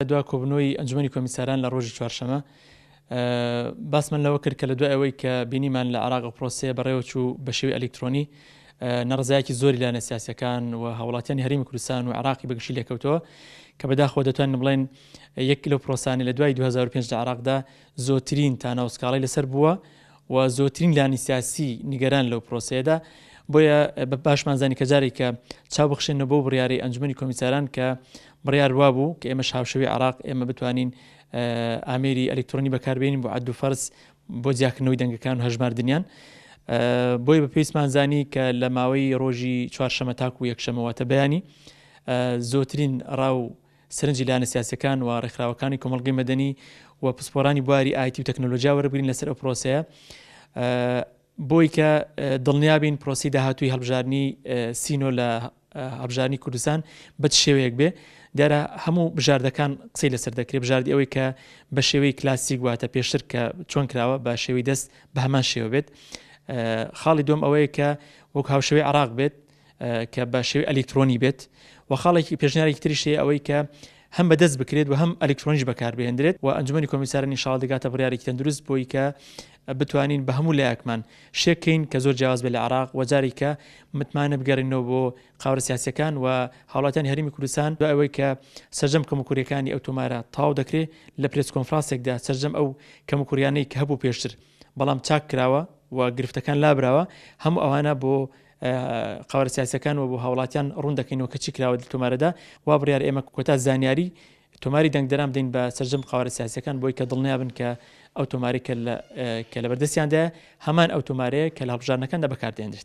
لە دوا کۆبنەوەی ئەنجومەنی کۆمیساران لە ڕۆژی چوارشەمە باسمان لەوە کرد کە لە دوای ئەوەی کە بینیمان لە عراق پرۆسەیە بەڕێوەچوو بە شێوی ئەلکترۆنی نەڕزایەکی زۆری لایەنە سیاسەکان و هاوڵاتیانی هەرمی کوردستان و عراقی بەگشی لێکەوتەوە کە بەداخۆ دەتوان بڵێن یەک لەو پرۆسانی لە دوای 2005 لە عراقدا زۆترین تاناوسکاڵی لەسەر بووە و زۆرترین لانی سیاسی نیگەران لەو پرۆسەیەدا، بۆیە باشمان زانی کە جارێکە چاو بخشێنەوە بەو بڕیارەی ئەنجومەنی کۆمیساران کە بڕیار وابوو کە ئێمەش هاوشێوەی عێراق ئێمە بتوانین ئامێری ئەلکترۆنی بەکاربێنین بۆ عەد و فەرز بۆ جیاکردنەوەی دەنگەکان و هەژماردنیان بۆی بە پێویستمان زانی کە لە ماوەی ڕۆژی چوارشەمە تاکو یەکشەمەواتە بەیانی زۆترین ڕاو سەرنجی لایەنە سیاسییەکان و ڕێکخراوەکانی کۆمەڵگەی مەدەنی و پسپۆرانی بواری ئایتی و تەکنەلۆجیا وەربگرین لەسەر ئەو پرۆسەیە بۆی کە دڵنیابین پرۆسی داهاتوی هەڵبژارنی سینۆ لە هەبژارنی کوردستان بە شێوەیەک بێ دیارە هەموو بژاردەکان قسەی لەسەر دەکرێت بژاردی ئەوەی کە بە شێوەی کلاسیک واتە پێشتر کە چۆن کراوە بە شێوی دەست بە هەمان شێوە بێت خاڵی دوم ئەوەیە کە وەک هاوشێوەی عراق بێت کە بە شێوەی ئەلیکترۆنی بێت و خاڵێکی پێشنیارێکی تریش هەیە ئەوەی کە هەم بەدەست بکرێت و هەم ئەلکترۆنیش بەکاربهێنرێت و ئەنجومی کۆمیسارە نیشاڵ دەگاتە بڕارێکی تەندروست بۆی کە بتوانین بە هەموو لایەکمان شێکەین کە زۆر جیاواز بێ لە عراق وەجاری کە متمانە بگەڕینەوە بۆ قاورە سیاسەکان و هاوڵاتیان هەرمی کوردستان بە ئەوەی کە سەرجەم کەمکوریەکانی ئەو تۆمارە تاو دەکرێت لە پرس کۆنفرانسێکدا سەرجەم ئەو کەمکوریانەی کە هەبوو پێشتر بەڵام چاک کراوە و گرفتەکان لابراوە هەموو ئەوانە بۆ قەوارە سیاسیەکان و بۆ هاوڵاتیان ڕوون دەکەینەوە کە چی کراوە تۆمارەدا وا بڕیار ئێمە کۆتا زانیاری تۆماری دەنگدەران بدەین بە سەرجەم قاوارە سیاسەکان بۆی کە دڵنیابن کە ئەو تۆماری کە لە بەردەستیاندا هەمان ئەو تۆمارەیە کە لە هەڵبژارنەکاندا بەکاردێنرێت